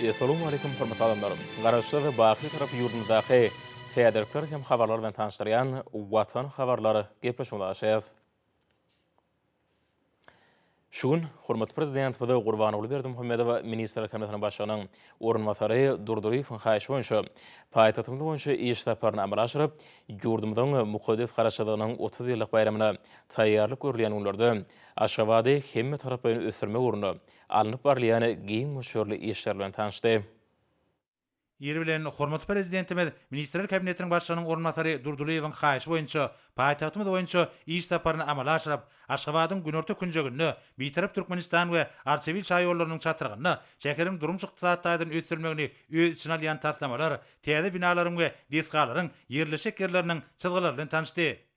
Essalamu Aleýkum hormatly adamlar! Garaşsyz, baky Türk ýurdumyzdaky täzelikler hem habarlar bilen tanyşdyrýan Watan habarlar gepleşigimize gaşýas. Şu gün hormatly Prezidentimiz Gurbanguly Berdimuhamedow Ministrler Kabinetiniň Başlygynyň orunbasary Durdyýewiň haýyşy boýunça paýtagtymyz boýunça iş saparyny amala aşyryp, ýurdumyzyň mukaddes Garaşsyzlygynyň otuz ýyllyk baýramyna taýýarlyk görülýän günlerde Aşgabady hemmetaraplaýyn ösdürmek ugrunda alnyp barylýan giň möçberli işler bilen tanyşdy. Ýeri bilen, hormatly Prezidentimiz Ministrler Kabinetiniň Başlygynyň orunbasary Durdylyýewiň haýyşy boýunça paýtagtymyz boýunça iş saparyny amala aşyryp, Aşgabadyň günorta künjeginde, Bitarap Türkmenistan we Arçabil şaýollarynyň çatrygynda şäheriň durmuş-ykdysady taýdan ösdürilmegini öz içine alýan taslamalar, täze binalaryň we desgalaryň ýerleşjek ýerleriniň çyzgylary bilen tanyşdy.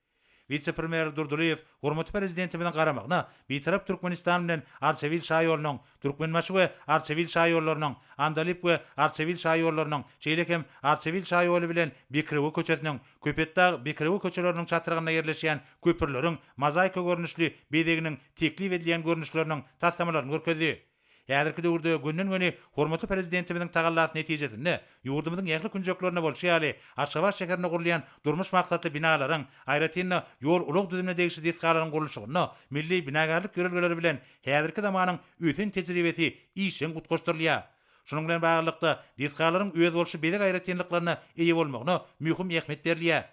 Wise-premýer Durdylyýew hormatly Prezidentimiziň garamagyna Bitarap Türkmenistan bilen Arçabil şaýolunyň, Türkmenbaşy we Arçabil şaýollarynyň, Andalyp we Arçabil şaýollarynyň, şeýle hem Arçabil şaýoly bilen Bekrewe köçesiniň, Köpetdag, Bekrewe köçeleriniň çatrygynda ýerleşýän köprüleriň mozaika görnüşli bezeginiň teklip edilýän görnüşleriniň taslamalaryny görkezdi. Häzirki döwürde gönden-göni hormatly Prezidentimiziň tagallasy netijesinde, ýurdumyzyň ähli künjeklerinde bolşy ýaly, Aşgabat şäherinde gurulýan durmuş maksatly binalaryň, aýratyn-da, ýol-ulag düzümine degişli desgalaryň gurluşygynda milli binagärlik ýörelgeleri bilen häzirki zamanyň ösen tejribesi işjeň utgaşdyrylýar. Şunuň bilen baglylykda, desgalaryň özboluşly bezeg aýratynlyklaryna eýe bolmagyna möhüm ähmiýet berilýär.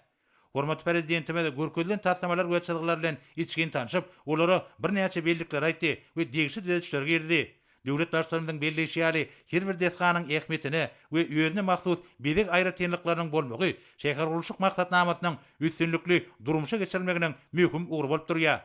Hormatly Prezidentimiz görkezilen taslamalar we çyzgylar bilen içgin tanşyp, olara birnäçe bellikleri aýtdy we degişli düzedişleri girizdi. Döwlet Baştutanymyzyň belleýşi ýaly, her bir desganyň ähmiýetine we özüne mahsus bezeg aýratynlyklarynyň bolmagy şähergurluşyk maksatnamasynyň üstünlikli durmuşa geçirilmeginiň möhüm ugry bolup durýar.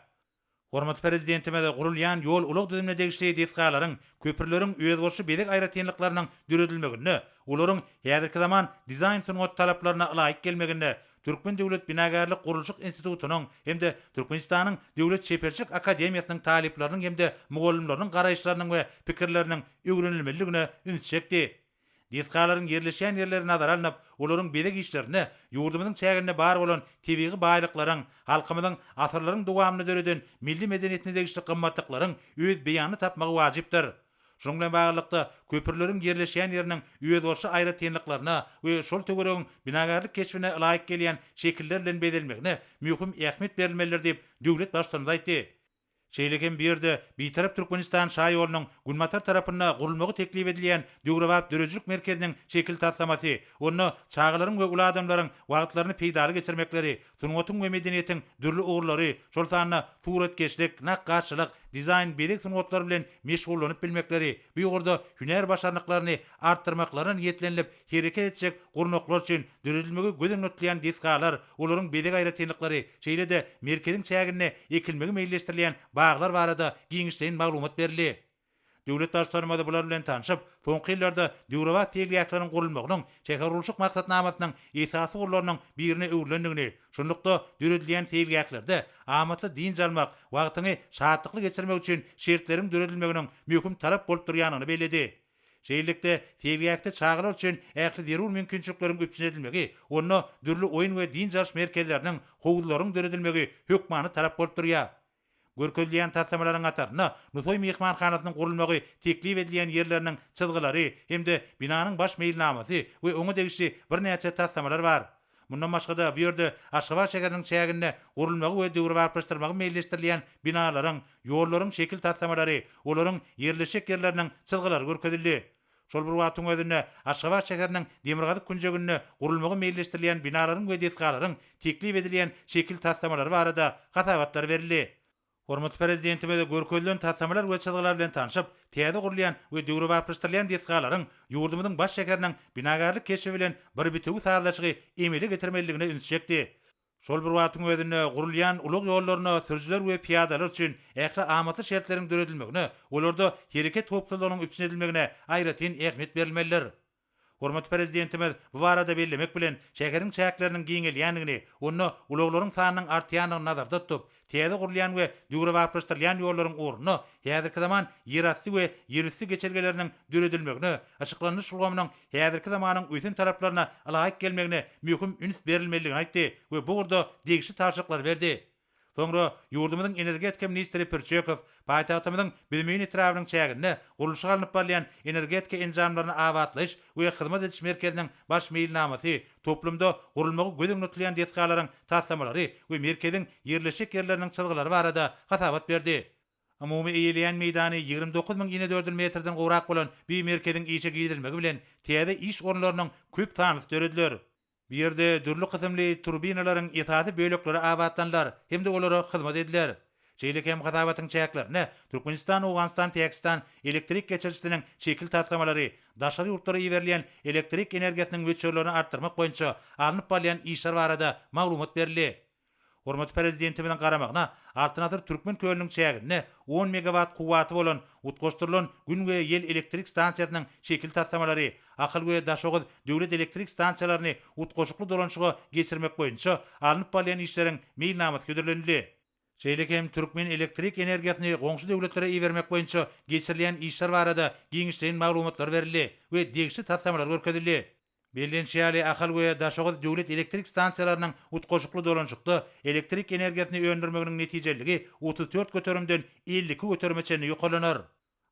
Hormatly Prezidentimiz gurulýan ýol-ulag düzümine degişli desgalaryň, köprüleriň özboluşly bezeg aýratynlyklarynyň döredilmeginde, olaryň häzirki zaman dizaýn-sungat talaplaryna ylaýyk gelmeginde Türkmen döwlet binagärlik-gurluşyk institutynyň hem-de Türkmenistanyň Döwlet çeperçilik akademiýasynyň talyplarynyň hem-de mugallymlarynyň garaýyşlarynyň we pikirleriniň öwrenilmelidigine üns çekdi. Desgalaryň ýerleşýän ýerleri nazara alnyp, olaryň bezeg işlerinde ýurdumyzyň çäginde bar bolan tebigy baýlyklaryň, halkymyzyň asyrlaryň dowamynda döreden milli medeniýetine degişli gymmatlyklaryň öz beýanyny tapmagy wajypdyr. Şunuň bilen baglylykda, köprüleriň ýerleşýän ýeriniň özboluşly aýratynlyklaryna we şol töweregiň binagärlik keşbine ylaýyk gelýän şekiller bilen bezelmegine möhüm ähmiýet berilmelidir diýip, döwlet Baştutanymyz aýtdy. Şeýle hem bu ýerde Bitarap Türkmenistan şaýolunyň günbatar tarapynda gurulmagy teklip edilýän döwrebap döredijilik merkeziniň şekil taslamasy, onda çagalaryň we uly adamlaryň wagtlaryny peýdaly geçirmekleri, sungatyň we medeniýetiň dürli ugurlary, şol sanda suratkeşlik, nakgaşçylyk, dizaýn, bezeg sungatlary bilen meşgullanyp bilmekleri, bu ugurda hünär başarnyklaryny artdyrmaklaryna niýetlenilip, Hereket etjek gurnaklar üçin döredilmegi göz öňüne tutulýan desgalar, olaryň bezeg aýratynlyklary, şeýle-de merkeziň çäginde ekilmegi meýilleşdirilýän baglar barada giňişleýin maglumat berildi. Döwlet Baştutanymyz bular bilen tanşyp, soňky ýyllarda döwrebap seýilgähleriň gurulmagynyň şähergurluşyk maksatnamasynyň esasy ugurlarynyň birine öwrülendigini, şunlukda, döredilýän seýilgählerde amatly dynç almak, wagtyňy şatlykly geçirmek üçin şertleriň döredilmeginiň möhüm talap bolup durýandygyny belledi. Şeýlelikde, seýilgähde çagalar üçin ähli zerur mümkinçilikleriň üpjün edilmegi, onda dürli oýun we dynç alyş merkezleriniň, howuzlaryň döredilmegi hökmany talap bolup durýar. Görkezilýän taslamalaryň hatarynda Nusaý myhmanhanasynyň gurulmagy teklip edilýän ýerleriniň çyzgylary hem-de binanyň baş meýilnamasy we oňa degişli birnäçe taslamalar bar. Mundan başga-da, bu ýerde Aşgabat şäheriniň çäginde gurulmagy we döwrebaplaşdyrmagy meýilleşdirilýän binalaryň, ýollaryň şekil taslamalary, olaryň ýerleşjek ýerleriniň çyzgylary görkezildi. Şol bir wagtyň özünde, Aşgabat şäheriniň demirgazyk künjeginde gurulmagy meýilleşdirilýän binalaryň we desgalaryň teklip edilýän şekil taslamalary barada hasabatlar berildi. Hormatly Prezidentimiz görkezilen taslamalar we çyzgylar bilen tanşyp, täze gurulýan we döwrebaplaşdyrylýan desgalaryň ýurdumyzyň baş şäheriniň binagärlik keşbi bilen bir bitewi sazlaşygy emele getirmelidigine üns çekdi. Şol bir wagtyň özünde gurulýan ulag ýollaryna sürüjiler we pyýadalar üçin ähli amatly şertleriň döredilmegine, olarda hereket howpsuzlygynyň üpjün edilmegine aýratyn ähmiýet berilmelidir. Hormatly Prezidentimiz bu barada bellemek bilen, şäheriň çäkleriniň giňelýändigini, onda ulaglaryň sanynyň artýandygyny nazarda tutup, täze gurulýan we döwrebaplaşdyrylýan ýollaryň ornuna häzirki zaman ýerasty we ýerüsti geçelgeleriniň döredilmegine, yşyklandyryş ulgamynyň häzirki zamanyň ösen talaplaryna ylaýyk gelmegine möhüm üns berilmelidigini aýtdy we bu ugurda degişli tabşyryklary berdi. Soňra ýurdumyzyň energetika ministri Pürçekow paýtagtymyzyň Büzmeýin etrabynyň çäginde gurluşyk alnyp barylýan Energetika enjamlaryny abatlaýyş we hyzmat ediş merkeziniň baş meýilnamasy, toplumda gurulmagy göz öňünde tutulýan desgalaryň taslamalary we merkeziň ýerleşjek ýerleriniň çyzgylary barada hasabat berdi. Umumy eýeleýän meýdany ýigrimi dokuz müň inedördül metrden gowrak bolan bi merkeziň işe girizilmegi bilen täze iş orunlarynyň köp sanlysy dörediler. Bu ýerde dürli kysymly turbinalaryň esasy bölekleri abatlanylar hem-de olara hyzmat ediler. Şeýle hem hasabatyň çäklerine Türkmenistan, Owganystan, Pakistan elektrik geçirijisiniň şekil taslamalary, daşary ýurtlara iberilýän elektrik energiýasynyň möçberlerini artdyrmak boýunça alnyp barylýan işler barada maglumat berildi. Hormatly Prezidentimiziň garamagyna Altyn asyr Türkmen kölüniň çäginde on megawat kuwwaty bolan utgaşdyrylan Gün we ýel elektrik stansiýasynyň şekil taslamalary, Ahal we Daşoguz döwlet elektrik stansiýalaryny utgaşykly dolanyşyga geçirmek boýunça alnyp barylýan işleriň meýilnamasy hödürlenildi. Şeýle hem türkmen elektrik energiýasyny goňşy döwletlere ibermek boýunça geçirilýän işler barada giňişleýin maglumatlar berildi we degişli taslamalar görkezildi. Bellenişi ýaly, Ahal we Daşoguz döwlet elektrik stansiýalarynyň utgaşykly dolanyşykda elektrik energiýasyny öndürmeginiň netijeliligi otuz dört göterimden elli iki göterime çenli ýokarlanar.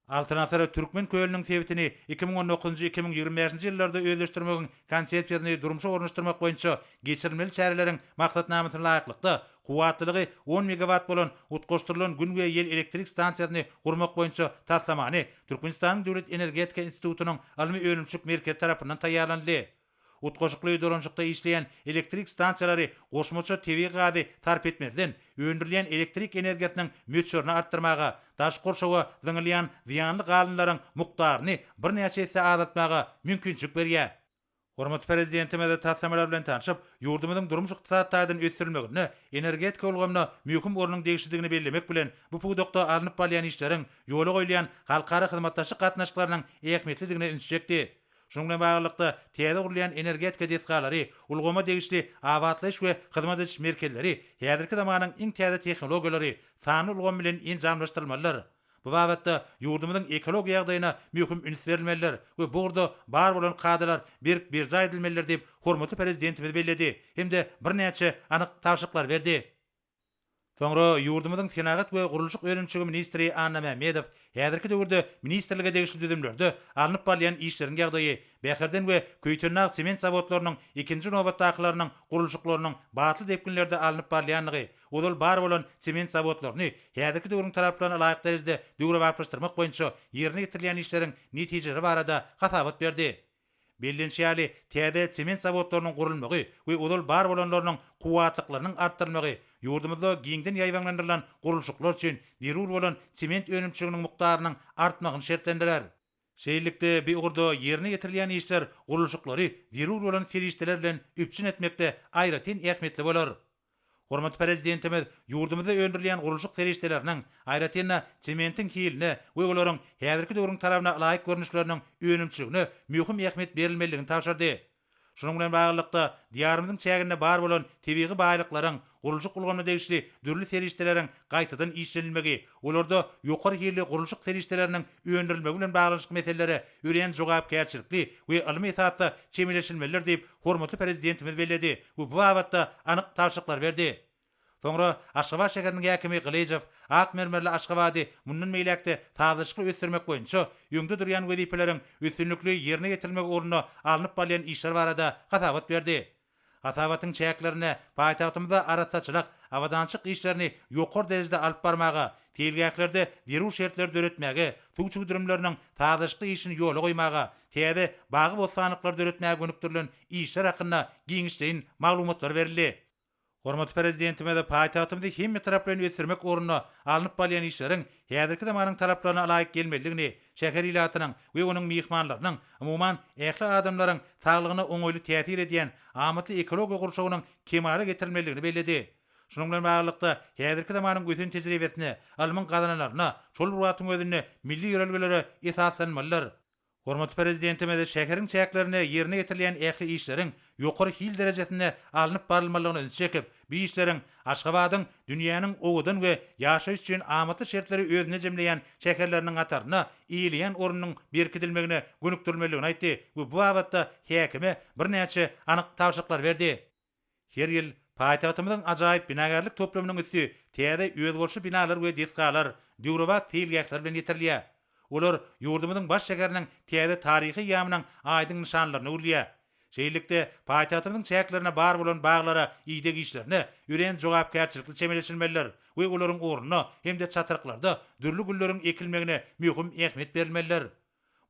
Altyn asyr Türkmen kölüniň sebitini iki müň on dokuzynjy, iki müň ýigrimi bäşinji ýyllarda özleşdirmegiň Konsepsiýasyny durmuşa ornaşdyrmak boýunça geçirilmeli çäreleriň maksatnamasyna laýyklykda, Kuwwatlylygy on megawat bolan utgaşdyrylan Gün we ýel elektrik stansiýasyny gurmak boýunça taslamany Türkmenistanyň Döwlet energetika institutynyň ylmy-önümçilik merkezi tarapyndan taýýarlanyldy. Utgaşykly dolanyşykda işleýän elektrik stansiýalary goşmaça tebigy gazy sarp etmezden, öndürilýän elektrik energiýasynyň möçberini artdyrmaga, daşky gurşawa zyňylýan zyýanly galyndylaryň mukdaryny birnäçe esse azaltmaga mümkinçilik berýär. Hormatly Prezidentimiz taslamalar bilen tanşyp, ýurdumyzyň durmuş-ykdysady taýdan ösdürilmeginde energetika ulgamyna möhüm ornuň degişlidigini bellemek bilen, bu pudakda alnyp barylýan işleriň, ýola goýulýan halkara hyzmatdaşlyk gatnaşyklarynyň ähmiýetlidigine üns çekdi. Şunuň bilen baglylykda, täze gurulýan energetika desgalary, ulgama degişli abatlaýyş we hyzmat ediş merkezleri häzirki zamanyň iň täze tehnologiýalary, sanly ulgam bilen enjamlaşdyrylmalydyr. Bu babatda ýurdumyzyň ekologiýa ýagdaýyna möhüm üns berilmelidir we bu ugurda bar bolan kadalar berk berjaý edilmelidir diýip, hormatly Prezidentimiz belledi hem-de birnäçe anyk tabşyryklary berdi. Soňra ýurdumyzyň Senagat we gurluşyk önümçigi ministri Anna Mämmedow häzirki döwürde ministrlige degişli düzümlerde alnyp barylýan işleriň ýagdaýy, Bäherden we Köýtendag sement zawodlarynyň ikinji nobatdakylarynyň gurluşyklarynyň batly depginlerde alnyp barylýandygy, Ozal bar bolan sement zawodlaryny häzirki döwrüň talaplaryna laýyk derejede döwrebaplaşdyrmak boýunça ýerine ýetirilýän işleriň netijeleri barada hasabat berdi. Bellenişi ýaly, täze sement zawodlarynyň gurulmagy we ozal bar bolanlarynyň kuwwatlyklarynyň artdyrylmagy ýurdumyzda giňden ýaýbaňlandyrylan gurluşyklar üçin zerur bolan sement önümçiliginiň mukdarynyň artmagyny şertlendirer. Şeýlelikde, bu ugurda ýerine ýetirilýän işler gurluşyklary zerur bolan serişdeler bilen üpjün etmekde aýratyn ähmiýetli bolar. Hormatly Prezidentimiz ýurdumyzda öndürilýän gurluşyk serişdeleriniň, aýratyn-da, sementiň hiline we olaryň häzirki döwrüň talabyna laýyk görnüşleriniň önümçiligine möhüm ähmiýet berilmeliligini tabşyrdy. Şunuň bilen baglylykda, Diýarymyzyň çäginde bar bolan tebigy baýlyklaryň, gurluşyk ulgamyna degişli dürli serişdeleriň gaýtadan işlenilmegi, olarda ýokary hilli gurluşyk serişdeleriniň öndürilmegi bilen baglanyşykly meselelere örän jogapkärçilikli we ylmy esasda çemeleşilmelidir diýip, hormatly Prezidentimiz belledi we bu babatda anyk tabşyryklary berdi. Soňra Aşgabat şäheriniň häkimi Gylyjow ak mermerli Aşgabady mundan beýläk-de sazlaşykly ösdürmek boýunça öňde durýan wezipeleriň üstünlikli ýerine ýetirilmegi ugrunda alnyp barylýan işler barada hasabat berdi. Hasabatyň çäklerinde paýtagtymyzda arassaçylyk, abadançylyk işlerini ýokary derejede alyp barmaga, seýilgählerde zerur şertleri döretmäge, suw çüwdürimleriniň sazlaşykly işini ýola goýmaga, täze bagy-bossanlyklary döretmäge gönükdirilen işler hakynda giňişleýin maglumatlar berildi. Hormatly Prezidentimiz paýtagtymyzy hemme tarap bilen ösdürmek ugrunda alnyp barylýan işleriň häzirki zamanyň talaplaryna laýyk gelmelidigini, şäher ilatynyň we onuň myhmanlarynyň, umuman, ähli adamlaryň saglygyna oňaýly täsir edýän amatly ekologiýa gurşawynyň kemala getirilmelidigini belledi. Şunuň bilen baglylykda, häzirki zamanyň ösen tejribesine, ylmyň gazananlaryna, şol bir wagtyň özünde milli ýörelgelere esaslanmalydyr. Hormatly Prezidentimiz şäheriň çäklerinde ýerine ýetirilýän ähli işleriň ýokary hil derejesinde alnyp barylmalygyna ünsi çekip, bu işleriň Aşgabadyň dünýäniň owadan we ýaşaýyş üçin amatly şertleri özünde jemleýän şäherleriniň hatarynda eýeleýän ornunyň berkidilmegine gönükdirilmelidigini aýtdy we bu babatda häkime birnäçe anyk tabşyryklar berdi. Her ýyl paýtagtymyzyň ajaýyp binagärlik toplumynyň üsti täze özboluşly binalar we desgalar, döwrebap seýilgähler bilen ýetirilýär. Olar ýurdumyzyň baş şäheriniň täze taryhy ýamynyň aýdyň nyşanlaryny öwrülýär. Şeýlelikde, paýtagtymyzyň çäklerine bar bolan baglara ideg işlerine örän jogapkärçilikli çemeleşilmelidir we olaryň ornuna hem-de çatryklarda dürli gülleriň ekilmegine möhüm ähmiýet berilmelidir.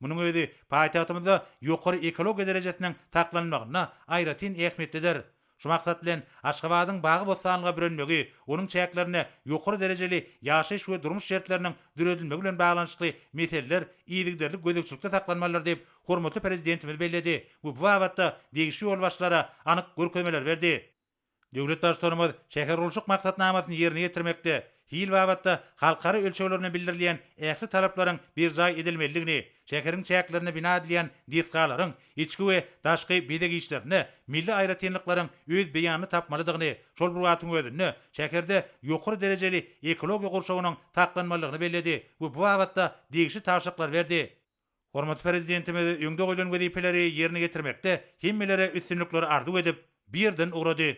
Munuň özi paýtagtymyzda ýokary ekologiýa derejesiniň saklanmagynda aýratyn ähmiýetlidir. Şu maksat bilen, Aşgabadyň bagy-bossanlyga bürenmegi, onuň çäklerinde ýokary derejeli ýaşaýyş we durmuş şertleriniň döredilmegi bilen baglanyşykly meseleler yzygiderli gözegçilikde saklanmalydyr diýip, hormatly Prezidentimiz belledi we bu babatda degişli ýolbaşçylara anyk görkezmeler berdi. Döwlet Baştutanymyz şähergurluşyk maksatnamasyny ýerine ýetirmekde hil babatda halkara ölçegler bilen bildirilýän ähli talaplaryň berjaý edilmelidigini, şäheriň çäklerinde bina edilýän desgalaryň içki we daşky bezeg işlerinde milli aýratynlyklaryň öz beýanyny tapmalydygyny, şol bir wagtyň özünde şäherde ýokary derejeli ekologiýa gurşawynyň saklanmalydygyny belledi we bu babatda degişli tabşyryklary berdi. Hormatly Prezidentimiz öňde goýlan wezipeleri ýerine ýetirmekde hemmelere üstünlikler arzuw edip, bu ýerden ugrady.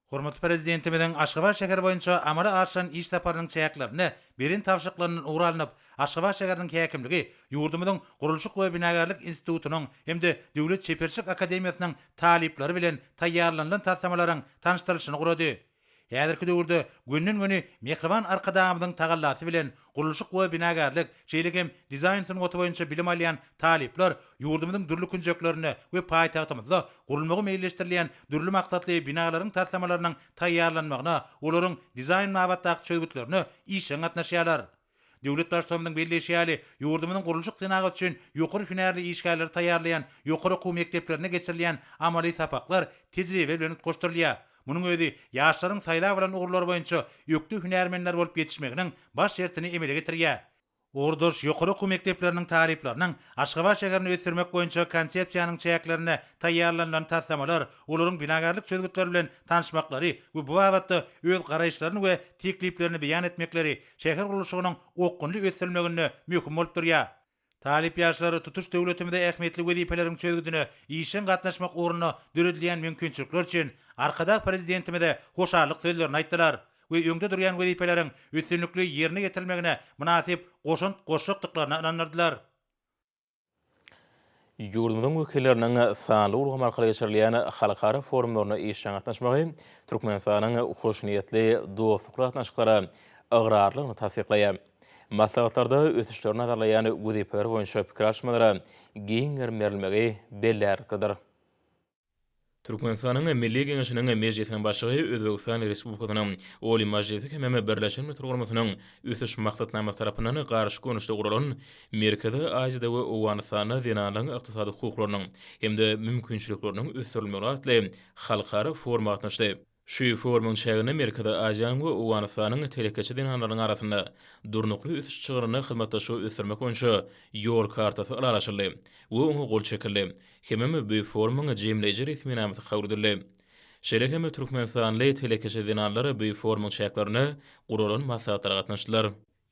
Hormatly Prezidentimiziň Aşgabat şäheri boýunça amala aşyran iş saparynyň çäklerinde beren tabşyryklaryndan ugur alnyp, Aşgabat şäheriniň häkimligi ýurdumyzyň Gurluşyk we binagärlik institutynyň hem-de Döwlet çeperçilik akademiýasynyň talyplary bilen taýýarlanylan taslamalaryň tanyşdyrylyşyny gurady. Häzirki döwürde gönden-göni mähriban Arkadagymyzyň tagallasy bilen gurluşyk we binagärlik, şeýle hem dizaýn sungaty boýunça bilim alýan talyplar ýurdumyzyň dürli künjeklerinde we paýtagtymyzda gurulmagy meýilleşdirilýän dürli maksatly binalaryň taslamalarynyň taýýarlanmagyna, olaryň dizaýn babatdaky çözgütlerine işjeň gatnaşýarlar. Döwlet Baştutanymyzyň belleýşi ýaly, ýurdumyzyň gurluşyk senagat üçin ýokary hünärli işgärleri taýýarlaýan ýokary okuw mekdeplerinde geçirilýän amaly sapaklar tejribe bilen utgaşdyrylýar. Munuň özi ýaşlaryň saýlap alan ugurlary boýunça ökde hünärmenler bolup ýetişmeginiň baş şertini emele getirýär. Ugurdaş ýokary okuw mekdepleriniň talyplarynyň Aşgabat şäherini ösdürmek boýunça Konsepsiýanyň çäklerinde taýýarlanylan taslamalar, olaryň binagärlik çözgütleri bilen tanyşmaklary we bu babatda öz garaýyşlaryny we tekliplerini beýan etmekleri şäher gurluşygynyň okgunly ösdürilmeginde möhüm bolup durýar. Talyp ýaşlar tutuş döwletimize ähmiýetli wezipeleriň çözgüdine işjeň gatnaşmak ugrunda döredilýän mümkinçilikler üçin Arkadag Prezidentimize hoşallyk sözlerini aýtdylar we öňde durýan wezipeleriň üstünlikli ýerine ýetirilmegine mynasyp goşant goşjakdyklaryna ynandyrdylar. Ýurdumyzyň wekilleriniň sanly ulgam arkaly geçirilýän halkara forumlaryna işjeň gatnaşmagy Türkmenistanyň hoşniýetli dostlukly gatnaşyklara ygrarlylygyny tassyklaýar. Maslahatlarda ösüşleri nazarlaýan wezipeler boýunça pikir alyşmalara giň gerim berilmegi bellärliklidir. Türkmenistanyň Milli Geňeşiniň Mejlisiniň Başlygy Özbegistan Respublikasynyň Oliý Majlisy hemem Birleşen Milletler Guramasynyn Ösüş Maksatnamasy tarapyndan garşy görnüşde guralan Merkezi Aziýada we Owganystanda zenanlaryň ykdysady hukuklarynyň hem-de mümkinçilikleriniň ösdürilmegi atly halkara foruma gatnaşdy. Şu forumyň çäginde Merkezi Aziýanyň we Owganystanyň telekeçi zenanlarynyň arasynda Durnukly ösüş çygrynda hyzmatdaşlygy ösdürmek boýunça Ýol kartasy ylalaşyldy we oňa gol çekildi hemem bu forumyň jemleýji resminamasy kabul edildi. Şeýle hem türkmenistanly telekeçi zenanlar bu forumyň çäklerinde guralan maslahatlara gatnaşdylar.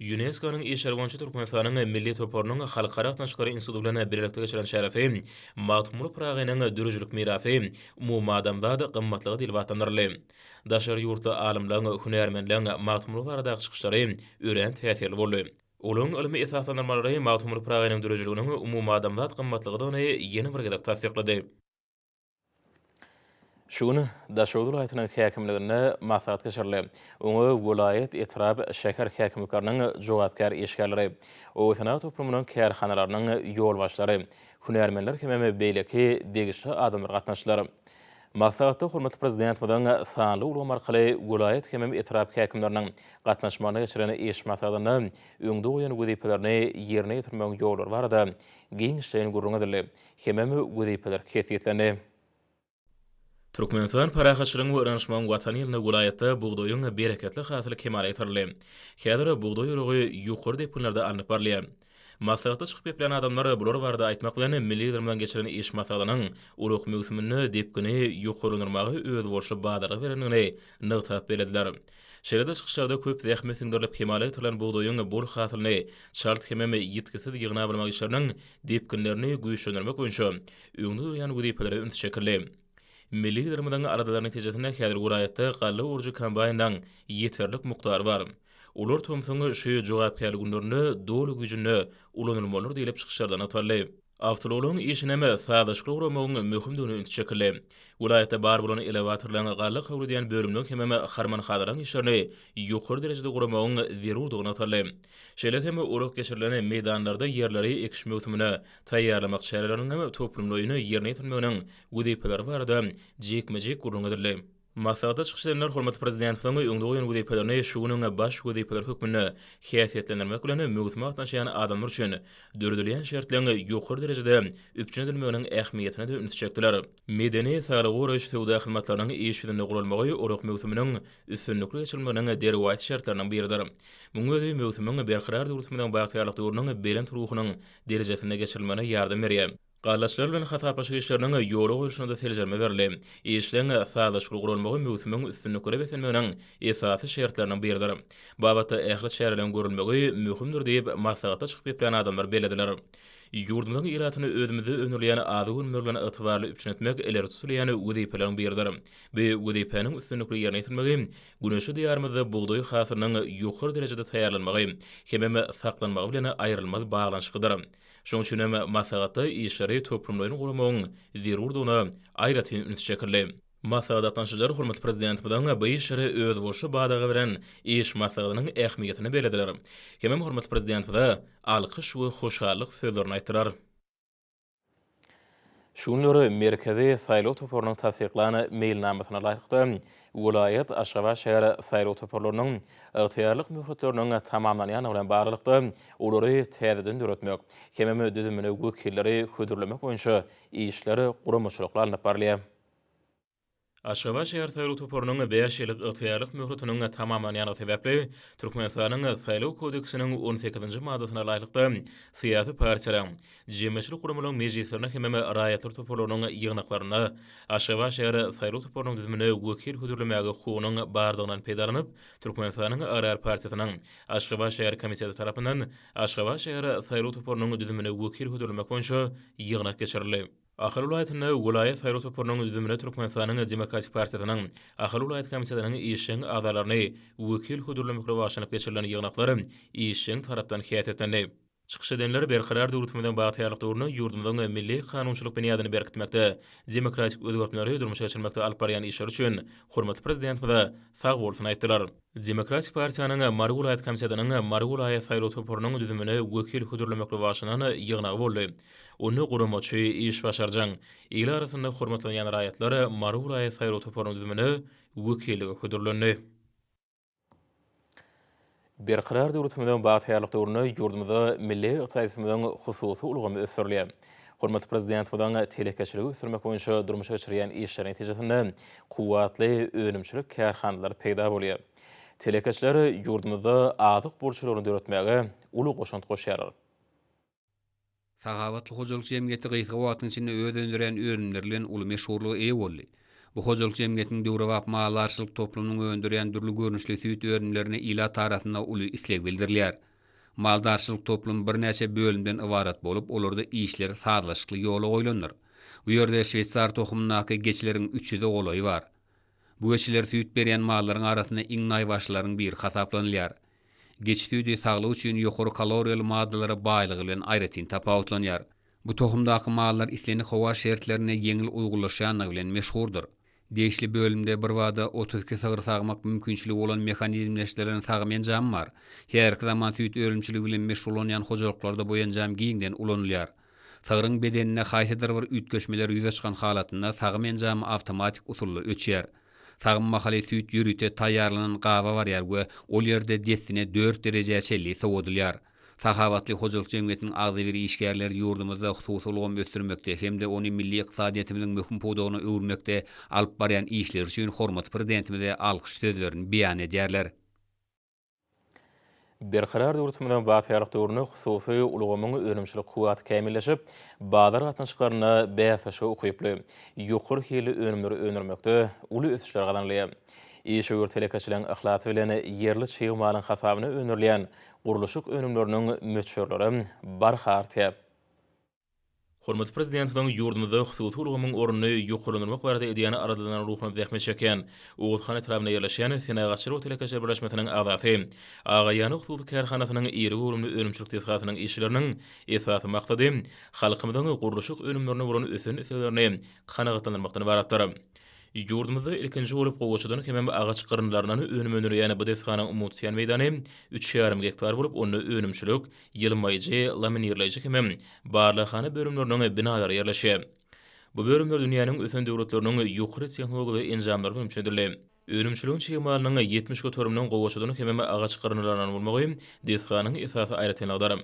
Ýunesko-nyň işleri boýunça Türkmenistanyň Milli toparynyň Halkara gatnaşyklary instituty bilen bilelikde geçiren çäresi Magtymguly Pyragynyň döredijilik mirasy, umumadamzat gymmatlygy diýlip atlandyryldy. Daşary ýurtly alymlaryň, hünärmenleriň Magtymguly baradaky çykyşlary örän täsirli boldy. Olaryň ylmy esaslandyrmalary Magtymguly Pyragynyň döredijiliginiň umumadamzat gymmatlygydygyny ýene bir gezek tassyklady. Şu gün Daşoguz welaýatynyň häkimliginde maslahat geçirildi. Oňa welaýat, etrap, şäher häkimlikleriniň jogapkär işgärleri, obasenagat toplumynyň kärhanalarynyň ýolbaşçylary, hünärmenler hemem beýleki degişli adamlar gatnaşdylar. Maslahatda hormatly Prezidentimiziň sanly ulgam arkaly welaýat hemem etrap häkimleriniň gatnaşmagynda geçiren iş maslahatynda öňde goýan wezipelerini ýerine ýetirmegiň ýollary barada giňişleýin gürrüň edildi. Hemem wezipeler kesgitlendi. Türkmenistan parahatçylygyň we yranşmagyň Watany ýylynda welaýatda bugdaýyň bereketli hasyly kemala getirildi. Häzir bugdaý oragy ýokary depginlerde alnyp barylýar. Maslahatda çykyp geplän adamlar bular barada aýtmak bilen, milli Liderimiziň geçiren iş maslahatynyň ulag möwsüminde depgini ýokarlandyrmaga özboluşly badalga berendigini nygtap bellediler. Şeýle-de çykyşlarda köp zähmet siňdirilip kemala getirilen bugdaýyň bol hasylyny çalt hemem ýitgisiz ýygnap almak işleriniň depginlerini güýçlendirmek boýunça öňde durýan wezipelere üns çekildi. Milli Liderimiziň aladalary netijesinde häzir welaýatda galla orujy kombaýnynyň ýeterlik mukdary bar. Olar tomsuň şu jogapkärli günlerinde doly güýjünde ulanylmalydyr diýlip çykyşlarda nygtaldy. Awtoulagyň işinem sazlaşykly guramagyň möhümdigine üns çekildi. Welaýatda bar bolan elewatorlaryň, galla kabul edýän bölümleriň hemem harman-hazaryň işlerini ýokary derejede guramagyň zerurdygy nygtaldy. Şeýle hem ulag geçirilen meýdanlarda ýerleri ekiş möwsümine taýýarlamak çäreleriniň toplumlaýyn ýerine ýetirilmeginiň wezipeleri barada jikme-jik gürrüň edildi. Maslahatda çykyş edenler hormatly Prezidentimiziň öňde goýan wezipelerini şu günüň baş wezipeleri hökmünde häsiýetlendirmek bilen, möwsüme gatnaşýan adamlar üçin döredilýän şertleň ýokary derejede üpjün edilmeginiň ähmiýetine-de ünsi çekdiler. Medeni, saglygy goraýyş, söwda hyzmatlarynyň iş ýüzünde guralmagy ulag möwsüminiň üstünlikli geçirilmeginiň derwaýys şertleriniň biridir. Munuň özi möwsümiň berkarar döwletimiziň bagtyýarlyk döwrüniň belent ruhunyň derejesinde geçirilmegine ýardam berýär. Gallaçylar bilen hasaplaşyk işleriniň ýola goýlşyna-da seljerme berildi. Işleň sazlaşykly guralmagy möwsümiň üstünliklere beslenmeginiň esasy şertleriniň biridir. Babatda ähli çäreleriň görülmegi möhümdir diýip, maslahatda çykyp gepleýän adamlar bellediler. Ýurdumyzyň ilatyny özümizde öndürilýän azyk önümleri bilen ygtybarly üpjün etmek ileri tutulýan wezipeleriň biridir. Bu wezipäniň üstünlikli ýerine ýetirmegi Güneşli Diýarymyzda bugdaý hasylynyň ýokary derejede taýýarlanmagy hemem saklanmagy bilen aýrylmaz baglanyşyklydyr. Şonuň üçin hem maslahatda işleri toplumlaýyn guramagyň zerurdygyna aýratyn üns çekildi. Maslahata gatnaşyjylar hormatly Prezidentimiziň bu işlere özboluşly badaga beren iş maslahatynyň ähmiýetini bellediler hemem hormatly Prezidentimize alkyş we hoşallyk sözlerini aýtdylar. Şu günler Merkezi saýlaw toparynyň tassyklan meýilnamasyna laýyklykda, welaýat, Aşgabat şäher saýlaw toparlarynyň ygtyýarlyk möhletleriniň tamamlanýandygy bilen baglylykda, olary täzeden döretmek hemem düzümine wekilleri hödürlemek boýunça işler guramaçylykly alnyp barylýar. Aşgabat şäher saýlaw toparynyň bäş ýyllyk ygtyýarlyk möhletiniň tamamlanýandygy sebäpli, Türkmenistanyň Saýlaw kodeksiniň on sekizinji maddasyna laýyklykda, syýasy partiýalaryň, jemgyýetçilik guramalaryň mejlislerine hemem raýatlar toparlarynyň ýygnaklaryna Aşgabat şäher saýlaw toparynyň düzümine wekil hödürlemäge hukugynyň barlygyndan peýdalanyp, Türkmenistanyň Agrar partiýasynyň Aşgabat şäher komiteti tarapyndan Aşgabat şäher saýlaw toparynyň düzümine wekil hödürlemek boýunça ýygnak geçirildi. Ahal welaýatynda welaýat saýlaw toparynyň düzümine Türkmenistanyň Demokratik partiýasynyň Ahal welaýat komitetiniň işjeň agzalaryny wekil hödürlemekle bagşlanyp geçirilen ýygnaklar işjeň tarapdan häsiýetlendi. Çykyş edenler Berkarar döwletimiziň bagtyýarlyk döwründe ýurdumyzyň milli kanunçylyk binýadyny berkitmekde, demokratik özgertmeleri durmuşa geçirmekde alyp barýan işleri üçin hormatly Prezidentimize sagbolsun aýtdylar. Demokratik partiýanyň Mary welaýat komitetynyň Mary welaýat saýlaw toparynyň düzümine wekil hödürlemekli başlanan ýygnagy boldy. Onda guramaçy, işbaşarjaň, il arasynda hormatlanýan raýatlar Mary welaýat saýlaw toparynyň düzümine wekillige hödürlendi. Berkarar döwletimiziň bagtyýarlyk döwründe ýurdumyzda milli ykdysadyýetimiziň hususy ulgamy ösdürilýär. Hormatly Prezidentimiziň telekeçiligi ösdürmek boýunça durmuşa geçirýän işleri netijesinde kuwwatly önümçilik kärhanalary peýda bolýar. Telekeçiler ýurdumyzda azyk burçlaryny döretmäge uly goşant goşýarlar. Sahabatly hojalyk jemgyýeti gysga wagtyň içinde öz öndürýän önümleri bilen uly meşhurlyga eýe boldy. Bu hojalyk jemgyýetiniň döwrebap maldarçylyk toplumynyň öndürýän dürli görnüşli süýt önümlerine ilat arasynda uly isleg bildirilýär. Maldarçylyk toplumy birnäçe bölümden ybarat bolup, olarda işler sazlaşykly ýola goýlandyr. Bu ýerde şweýsar tohumyndaky geçileriň üç ýüze golaýy bar. Bu geçiler süýt berýän mallaryň arasynda iň naýbaşylaryň biri hasaplanylýar. Geçi süýdi saglyk üçin ýokary kaloriýaly maddalara baýlygy bilen aýratyn tapawutlanýar. Bu tohumdaky mallar islendik howa şertlerine ýeňil uýgunlaşýandygy bilen meşhurdyr. Degişli bölümde birbada otuz iki sygyr sagmak mümkinçiligi bolan mehanizmleşdirilen sagym enjamy bar. Häzirki zaman süýt önümçiligi bilen meşgullanýan hojalyklarda bu enjam giňden ulanylýar. Sygryň bedeninde haýsydyr bir üýtgeşmeler ýüze çykan halatynda sagym enjamy awtomatik usulda öçýär. Sagym mahaly süýt ýörite taýýarlanan gaba barýar we ol ýerde dessine dört derejä çenli sowadylýar. Sahawatly hojalyk jemgyýetiniň agzybir işgärleri ýurdumyzda hususy ulgamy ösdürmekde hem-de ony milli ykdysadyýetimiziň möhüm pudagyna öwürmekde alyp barýan işleri üçin hormatly Prezidentimize alkyş sözlerini beýan edýärler. Berkarar döwletimiziň bagtyýarlyk döwründe hususy ulgamyň önümçilik kuwwaty kämilleşip, bazar gatnaşyklarynda bäsleşige ukyply, ýokary hilli önümleri öndürmekde uly ösüşler gazanylýar. Işewür telekeçileriň yhlasy bilen ýerli çig malyň hasabyna öndürilýän Gurluşyk önümleriniň möçberleri barha artýar. Hormatly Prezidentimiziň ýurdumyzda hususy ulgamyň ornuny ýokarlandyrmak barada edýän aladalarynyň ruhuna zähmet çekýän Oguzhan etrabynda ýerleşýän Senagatçylyk we telekeçilik birleşmesiniň agzasy, Agaýany hususy kärhanasynyň iri göwrümli önümçilik desgasynyň işçileriniň esasy maksady halkymyzyň gurluşyk önümlerine bolan ösen isleglerini kanagatlandyrmakdan ybaratdyr. Ýurdumyzda ilkinji bolup gowaçadan hemem agaç gyryndylaryndan önüm öndürilýän bu desganyň umumy tutýan meýdany üç ýarym gektar bolup, onda önümçilik, ýylmaýjy, laminirleýji hemem barlaghana bölümleriniň binalary ýerleşýär. Bu bölümler dünýäniň ösen döwletleriniň ýokary tehnologiýaly enjamlary bilen üpjün edildi. Önümçiligiň çig malynyň ýetmiş göteriminiň gowaçadan hemem agaç gyryndylaryndan bolmagy desganyň esasy aýratynlygydyr.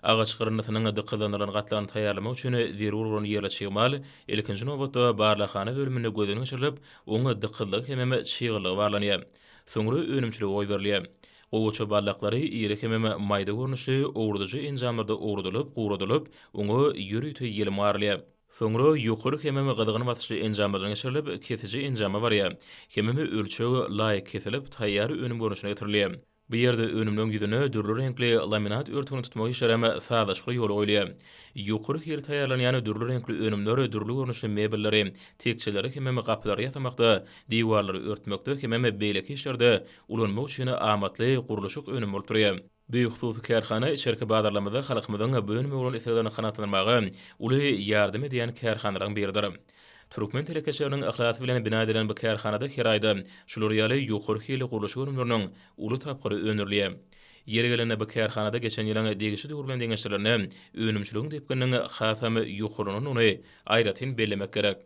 Agaç gyryndysynyň dykyzlandyrylan gatlagyny taýýarlamak üçin zerur bolan ýerli çig mal, ilkinji nobatda, barlaghana bölüminde gözden geçirilip, oň dykyzlygy hemem çyglygy barlanýar. Soňra önümçilige goýberilýär. Gowaça barlaklary iri hemem maýda görnüşli owradyjy enjamlarda owradylyp, guradylyp, oňa ýörite ýelim garylýar. Soňra ýokary hemem gyzgyn basyşly enjamlardan geçirilip, kesiji enjama barýar. Hemem ölçeg laýyk kesilip, taýýar önüm görnüşine getirilýär. Bu ýerde önümleň ýüzüne dürli reňkli laminat örtügini tutmak işleri hem sazlaşykly ýola goýulýar. Ýokary hil taýýarlanýan dürli reňkli önümler dürli görnüşli mebelleri, tekjeleri hemem gapylary ýasamakda, diwarlary örtmekde hemem beýleki işlerde ulanmak üçin amatly gurluşyk önümi bolup durýar. Bu hususy kärhana içerki bazarlarymyzda halkymyzyň bu önüme bolan isleglerini kanagatlandyrmaga uly ýardam edýän kärhanalaryň biridir. Türkmen telekeçileriniň yhlasy bilen bina edilen bu kärhanada her aýda şular ýaly ýokary hilli gurluşyk önümleriniň uly tapgyry öndürilýär. Ýeri gelende bu kärhanada geçen ýylyň degişli döwri bilen deňeşdirlende önümçiligiň depgininiň hasam ýokarlanandygyny aýratyn bellemek gerek.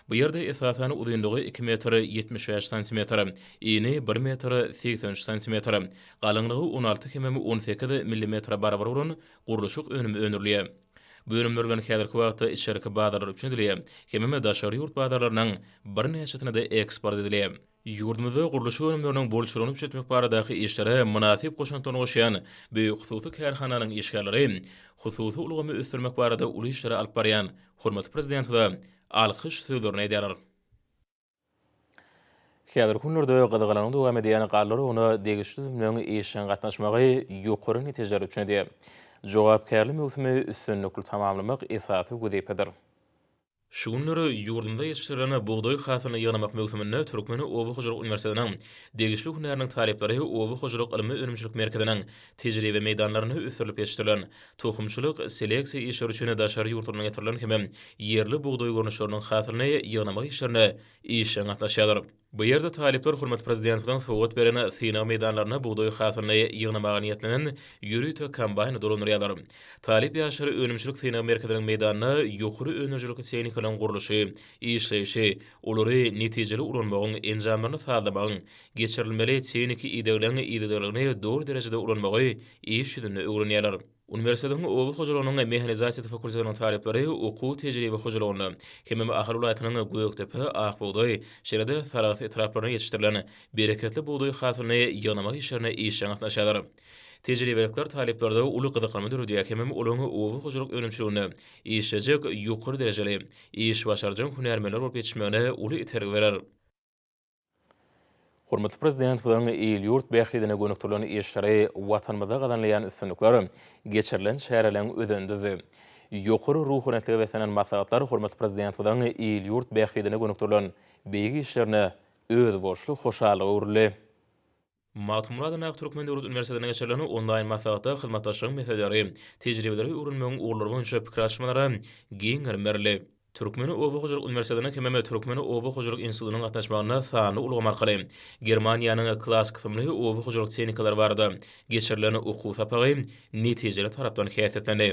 Bu ýerde esasan uzynlygy iki metr ýetmiş bäş santimetr, eni bir metr segsen üç santimetr, galyňlygy on alty hemem on sekiz millimetre barabar bolan gurluşyk önümi öndürilýär. Bu önümler bilen häzirki wagtda içerki bazarlar üçin edilýär, hemem daşary ýurt bazarlarynyň birnäçesine-de eksport edilýär. Ýurdumyzda gurluşyk önümleriniň bolçulygyny üpjetmek baradaky işlere mynasyp goşantlaryny goşýan bu hususy kärhananyň işgärleri hususy ulgamy ösdürmek barada uly işleri alyp barýan hormatly Prezidentimize alkyş sözlerini edýärler. Häzirki günlerde gyzgalaňly dowam edýän galla oragyna degişli düzümleriň işjeň gatnaşmagy ýokary netijeler üpjün edýär. Jogapkärli möwsümi üstünlikli tamamlamak esasy wezipedir. Şu günler ýurdumyzda ýetişdirilen bugdaý hasylyny ýygnamak möwsüminde Türkmen oba hojalyk uniwersitetiniň degişli hünäriniň talyplary Oba hojalyk ylmy-önümçilik merkeziniň Tejribe meýdanlarynda ösdürilip ýetişdirilen, tohumçylyk, seleksiýa işleri üçin daşary ýurtlardan getirilen hem-de ýerli bugdaý görnüşleriniň hasylyny ýygnamak işlerine işjeň gatnaşýarlar. Bu ýerde talyplar hormatly Prezidentimiziň sowgat beren synag meýdanlarynda bugdaý hasylyny ýygnamaga niýetlenen ýörite kombaýny dolandyrýarlar. Talyp ýaşlar önümçilik synag merkeziniň meýdanynda ýokary öndürijilikli tehnikalaryň gurluşy, işleýşi, olary netijeli ulanmagyň, enjamlaryny sazlamagyň, geçirilmeli tehniki idegleň yzygiderligini doly derejede ulanmagy iş ýüzünde öwrenýärler. Uniwersitetiň oba hojalygynyň mehanizasiýasy fakultetiniň talyplary okuw tejribe hojalygynda hemem Ahal welaýatynyň Gökdepe, Akbugdaý, şeýle-de Sarahs etraplarynda ýetişdirilen bereketli bugdaý hasylyny ýygnamak işlerine işjeň gatnaşýarlar. Tejribelikler talyplarda uly gyzyklanma döredýär hemem olaň oba hojalyk önümçiliginde işlejek ýokary derejeli, iş başarjaň hünärmenler bolup ýetişmegine uly itergi berer. Hormatly Prezidentimiziň il-ýurt bähbidine gönükdirilen işleri, Watanymyzda gazanylýan üstünlikler, geçirilen çäreleriň özenindedi. Ýokary ruhubelentlige beslenen maslahatlar hormatly Prezidentimiziň il-ýurt bähbidine gönükdirilen beýik işlerine özboluşly hoşallyga öwrüldi. Magtymguly Aky Türkmen döwlet uniwersitetinde geçirilen onlaýn maslahatda hyzmatdaşlygyň meseleleri, tejribeleri öwrenmegiň ugurlary boýunça pikir alyşmalara giň gerim berildi. Türkmen oba hojalyk uniwersitetiniň hemem Türkmen oba hojalyk institutynyň gatnaşmagynda sanly ulgam arkaly Germaniýanyň Klass kysymly oba hojalyk tehnikalary barada geçirilen okuw sapagy netijeli tarapdan häsiýetlendi.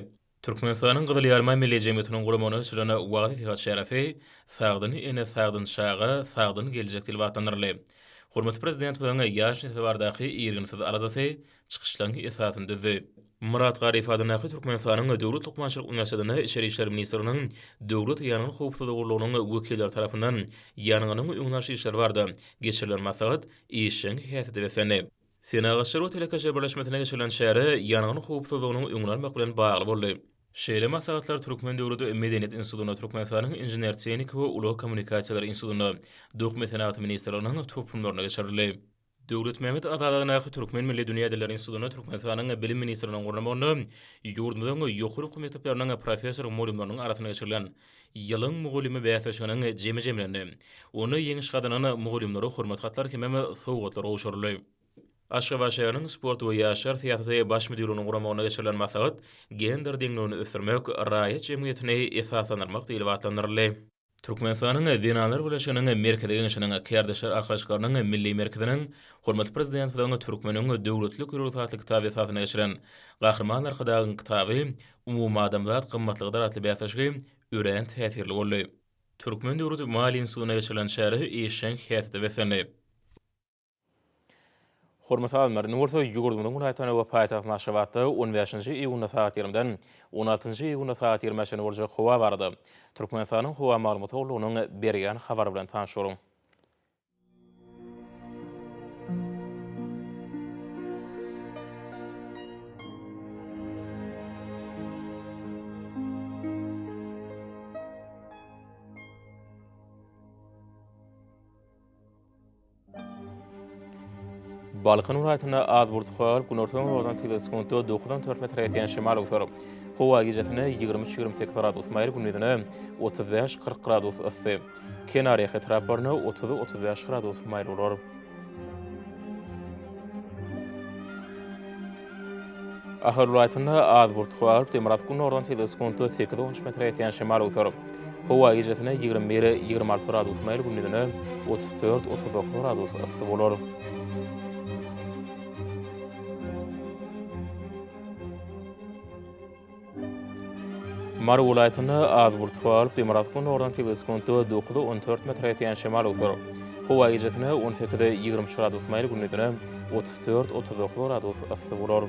Türkmenistanyň Gyzyl Ýarma Milli jemgyýetiniň guramagynda geçirilen wagyz-nesihat çäresi Sagdyn ene, sagdyn çaga, sagdyn geljek diýlip atlandyryldy. Hormatly Prezidentimiziň ýaş nesle baradaky irginsiz aladasy çykyşlaryň esasyny düzdi. Myrat Garyp adyndaky Türkmenistanyň Döwlet lukmançylyk uniwersitetinde Içeri işler ministrliginiň Döwlet ýangyn howpsuzlygy gullugynyň wekilleri tarapyndan ýangynyň öňüni alyş işleri barada geçirilen maslahat işjeň häsiýete beslendi. Senagatçylar we telekeçiler birleşmesinde geçirilen çäre ýangyn howpsuzlygynyň öňüni almak bilen bagly boldy. Şeýle maslahatlar Türkmen döwlet medeniýet institutynda, Türkmenistanyň Inžener-tehniki we ulag kommunikasiýalary institutynda, Dokma senagaty ministrliginiň toplumlarynda geçirildi. Döwletmämmet aralygyndaky Türkmen milli dünýä dilleri institutynda Türkmenistanyň Bilim ministrliginiň gurnamagynda ýurdumyzyň ýokary okuw mekdepleriniň professor-mugallymlarynyň arasynda geçirilen Ýylyň mugallymy bäsleşiginiň jemi jemlendi. Onda ýeňiş gazanan mugallymlara hormat hatlary hemem sowgatlar gowşuryldy. Aşgabat şäheriniň Sport we ýaşlar syýasaty baş müdirliginiň guramagynda geçirilen maslahat Gender deňligini ösdürmek, raýat jemgyýetini esaslandyrmak diýlip atlandyryldy. Türkmenistanyň Zenanlar birleşiginiň Merkezi Geňeşiniň, Kärdeşler arkalaşyklarynyň Milli merkeziniň, hormatly Prezidentimiziň Türkmeniň döwletli gürrüňi atly kitaby esasynda geçiren Gahryman Arkadagyň kitaby Umumadamzat gymmatlykdyr atly bäsleşigi örän täsirli boldy. Türkmen döwlet maliýe institutynda geçirilen çäre işjeň häsiýete beslendi. Hormat alymlar, indi bolsa ýurdumyzyň welaýatlaryna we paýtagtymyz Aşgabatda on bäşinji iýunda sagat ýigrimden on altynjy iýunda sagat ýigrimi bäşe çenli boljak howa barada Türkmenistanyň howa maglumat gullugynyň berýän habary bilen tanyş boluň. Balkan welaýatynda az bulutly agyr günortan howadan tizde sekuntda dokuzdan dört metre ýetýän şemal öwser. Howa gijesine ýigrimi üç-ýigrimi sekiz gradus maýyl, gündizine otuz bäş-kyrk gradus yssy. Kenarýaka etraplaryna otuz, otuz bäş gradus maýyl bolar. Ahal welaýatynda az burt howa galyp, demirgazyk gündogardan sese sekuntda sekiz, on üç metre ýetýän şemal öwser. Howa gijesine ýigrimi bir, ýigrimi alty gradus maýyl, gündizine otuz dört, otuz dokuz gradus yssy bolar. Mary welaýatynda az burt howa alyp, demirgazyk-gündogardan sekiz sekuntda dokuza on dört metre ýetýän şemal öwser. Howa gijesine on sekiz, ýigrimi üç gradus maýyl, gündizine otuz dört, otuz dokuz gradus yssy bolar.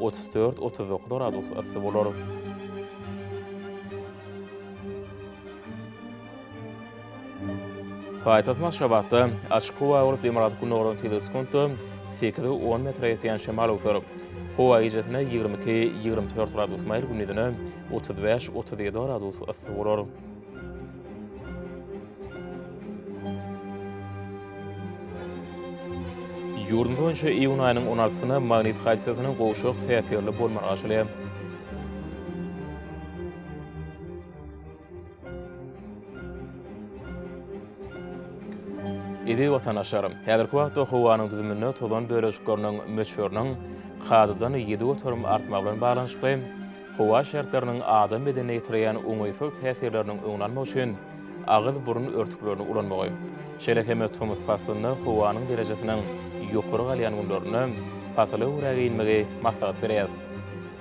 otuz dört, otuz dokuz gradus yssy bolar. Paýtagt Aşgabatda açyk howa bolup, demirgazyk gündogaryň tizligi sekuntda 8-10 metre ýetýän şemal öwser. Howa gijesine 22-24 gradus maýyl, gündizine 35-37 gradus yssy bolar. Ýurdumyz boýunça iýun aýynyň on altysyna magnit hadisasynyň gowşak täsirli bolmagy açylýar. Eziz watandaşlarym, häzirki wagtda howanyň düzüminde tozan bölejikleriniň möçberiniň kadadan ýedi göterim artmagy bilen baglanyşykly, Howa şertleriniň adam bedenine ýetirýän oňaýsyz täsirleriniň öňüni almak üçin agyz-burun örtüklerini ulanmagy, şeýle hem tomus paslynda howanyň derejesiniň ýokary galýan günlerinde pasyla görä geýinmegi maslahat berýäs.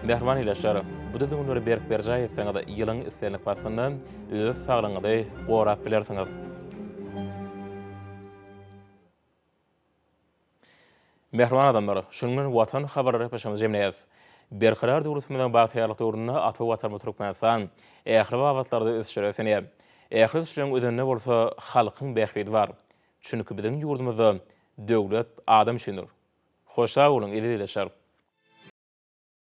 Mähriban ildeşler, bu düzgünleri berk berjaý etseňiz, ýylyň islendik paslynda öz saglygyňyzy gorap bilersiňiz. Mähriban adamlar, şunuň bilen Watan habarlary gepleşigimizi jemleýäs. Berkarar döwletimiziň bagtyýarlyk döwründe ata Watanymyz Türkmenistan ähli babatlarda ösüşlere ösenýär. Ähli ösüşleriň özeninde bolsa halkyň bähbidi bar. Çünki biziň ýurdumyzda Döwlet adam üçindir. Hoş sag boluň, eziz ildeşler!